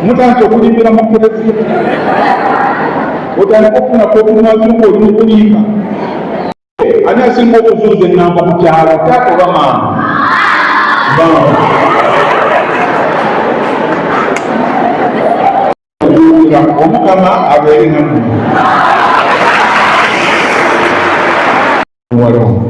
mutandika okulimbira mu kereziya otandika okufuna kokumazuka olikulimba ani asinga okuzuuza enamba ku kyalo taata oba maama omukama abeere namu waliwo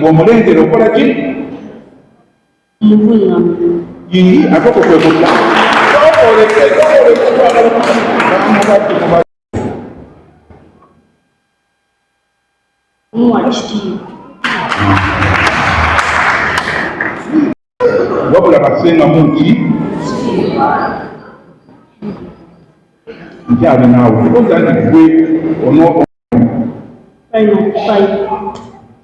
bw'omulengera okola ki yii akoko kwe kudda Muwa ekitiibwa wabula basenga mungi nkyali naawe ogandi gwe ono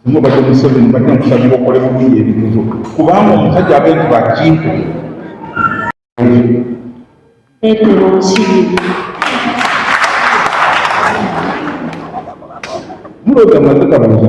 omu badde museveni badde nkusabira okole bulungi ebintu kubanga omusajja abentu bakintu muloga mazika buza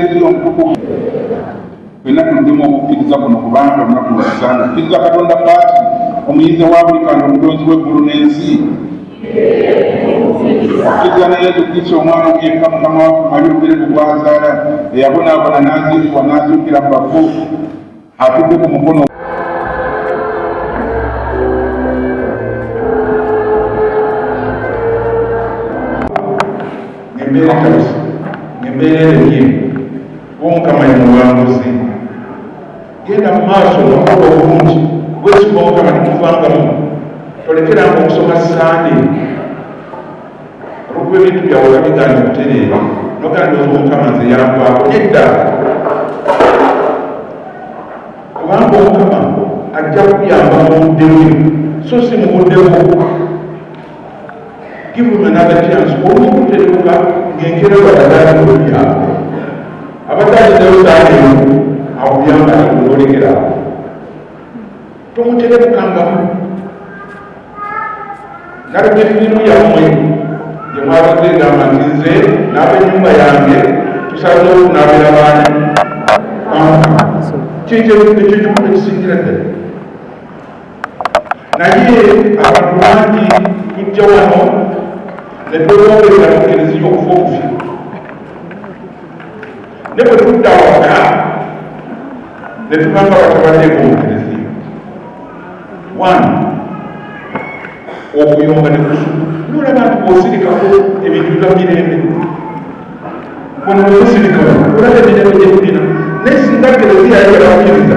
Ezira omutukuvu fenna tuddemu okukkiriza kuno kubanga olunaku lwasanga okkiriza katonda paati omuyinza wa buli kantu omutonzi w'eggulu n'ensi okkiriza ne yesu kristo omwana omuyekka mukama waffe mali obere mu gwazaala eyabonaabona n'aziikibwa n'azuukira mu bafu atudde ku mukono embeera kati embeera erenye omukama ye muwanguzi genda mu maaso nokuba obulungi bwesima omukama nemuvangamu tolekeranga okusoma sande olwokuba ebintu byawe oba bigaanye okutereeba noganda oza omukama nze yankwako nedda kubanga omukama ajja kuyamba mu budde bwe so si mu budde bwo give him another chance olumukuterebuka ng'enkera badagaalimubyako abadde alinayo saala emu akuyamba nakunolekerako tomuterebukangamu nalugefirimu yammwe gye mwabadde ngamba nti nze n'abenyumba yange tusazeewo kunaabera baani kyekyekimu ekisingira ddala naye abantu bangi tujja wano ne twewongerera mukereziyo okufa okufi ne bwe tudda waka ne tugamba batabadde bomugerezi one okuyomba ne kusuku nolaba nti bwosirikako ebintu bya mirembe ono bwemusirikako olaba emirembe gyetulina naye singa gerezi yayolaakiriza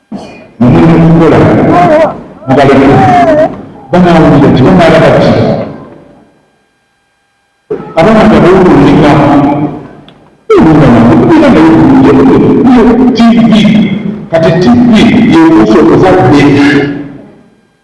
mukola mubaleke banawulira tebanala bati abana gabaokulinga tv kati tv yekuusa okuzadde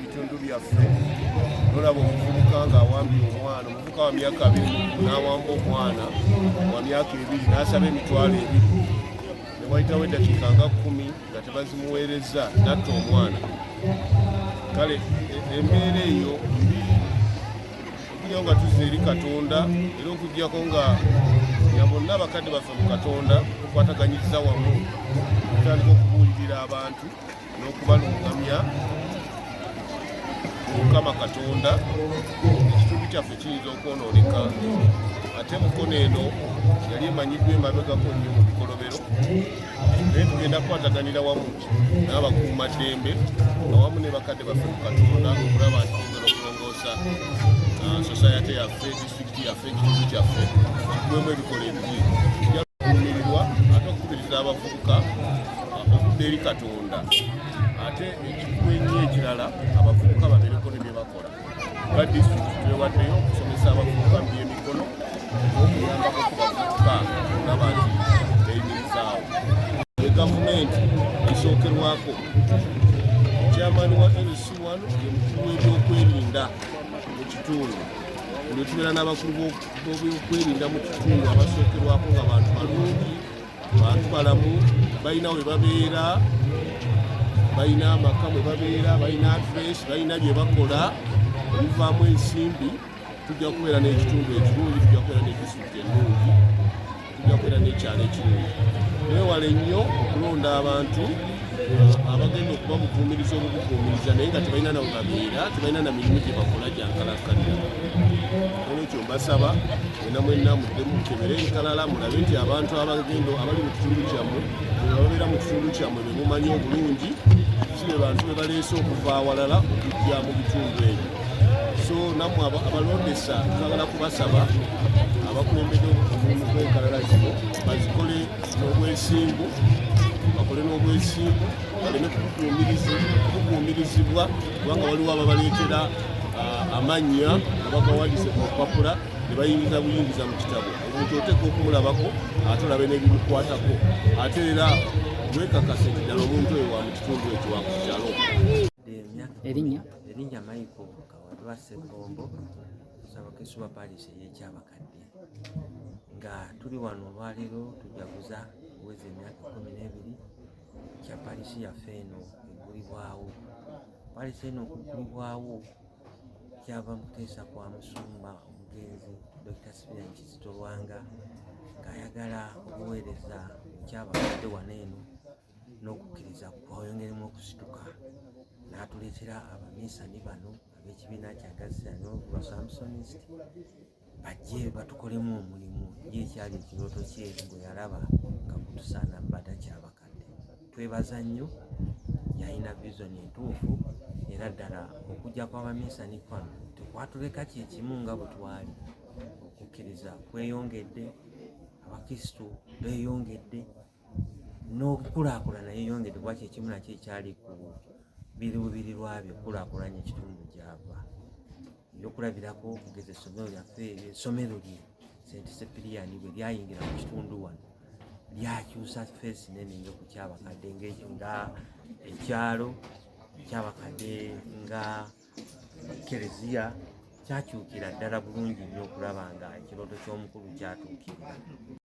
bitundu byaffe nolaba omuvubuka ng'awambye omwana omuvubuka wa myaka abiri n'awamba omwana wa myaka ebiri n'asaba emitwalo ebiri ne wayitawo eddakiika nga kkumi nga tebazimuweerezza natta omwana kale e, embeera eyo mbi okujjao nga tuzza eri katonda era okujjako nga nga bonna abakadde baffe mu katonda okwataganyiriza wamu otandika okubuulirira abantu n'okubalungamya mukama katonda ekitundu kyaffe kiyinza okwonooneka ate mukono eno yali emanyiddwa emabegako nnyo mu bikolobero naye tugenda kukwataganira wamu n'abakuuma ddembe awamu ne bakadde baffe mu katonda okulaba nti tugera okulongoosa uh, sosayate yaffe disitulikiti yaffe ekitundu kyaffe kigwemu ebikola ebiri kijakuumirirwa ate okukubiriza abavubuka okudda eri katonda ate ekikulu ennyo ekirala abavubuka babeereko ne bye bakola nga disitulikiti twewaddeyo okusomesa abavubuka mu byemikono okuyambako ku bavubuka nga bangi beyimirizaawo e gavumenti esookerwako kyamaani wa nc wano ye mukulu w'ebyokwerinda mu kitundu lwetubeera n'abakulu b'ebyokwerinda mu kitundu abasookerwako nga bantu balungi bantu balamu balina we babeera balina amaka mwe babeera balina adres balina bye bakola ebivaamu ensimbi tujja kubeera n'ekitundu ekirungi tujja kubeera n'ekisukka ennungi tujja kubeera n'ekyalo ekirungi wewale nnyo okulonda abantu abagenda okuba mukuumiriza obukukuumiriza naye nga tebalina nawe babeera tebalina na mirimu gye bakola gyankalakkalira olwekyo mbasaba mwena mwena muddemu mukebere enkalala mulabe nti abantu abagendo abali mu kitundu kyammwe ababeera mu kitundu kyammwe be mumanyi obulungi si be bantu be baleese okuva awalala okujja mu bitundu ebyo so nammwe abalondesa twagala kubasaba abakulembede omulimu gw'enkalala zino bazikole n'obwesimbu bakole n'obwesimbu baleme kukuumirizibwa kubanga waliwo ababaleetera ah, amannya abagawandise ku lupapula ne bayingiza buyingiza mu kitabo omuntu oteeka okumulabako ate olabe n'ebimukwatako ate era wekakase nti ddala omuntu oyo wa mu kitundu ekyo wa ku kyalo erinnya erinnya maiko kawadwa sekombo kusaba kesuba parish eyekyabakadde nga tuli wano olwaleero tujaguza kuweza emyaka kumi n'ebiri kya palisi yaffe eno egulibwawo palisi eno okugulibwawo kyava mu kuteesa kwa musumba omugenzi dr sipian kizito lwanga ng'ayagala okuweereza ekyabakadde wano eno n'okukkiriza kwayongeremu okusituka n'atuleetera abaminsani bano ab'ekibiina kya gaziano lwa samsonist bajje batukolemu omulimu ye ekyali ekirooto kye gwe yalaba nga kutusaana bada kyabakadde twebaza nnyo yalina vision entuufu era ddala okujja kw'abaminsani kwano tekwatuleka kyekimu nga bwe twali okukkiriza kweyongedde abakristu beeyongedde n'okukulaakulana yeyongedde kuba kyekimu nakyo ekyali ku biruubirirwa byo okulaakulanya ekitundu gyava ebyokulabirako okugeza essomero lyaffe essomero lye sente sepiriyani bwe lyayingira mu kitundu wano lyakyusa feesi nene nyo ku kyabakadde nga ekyalo kyabakadde nga kereziya kyakyukira ddala bulungi nnyo okulaba nga ekirooto ky'omukulu kyatuukirira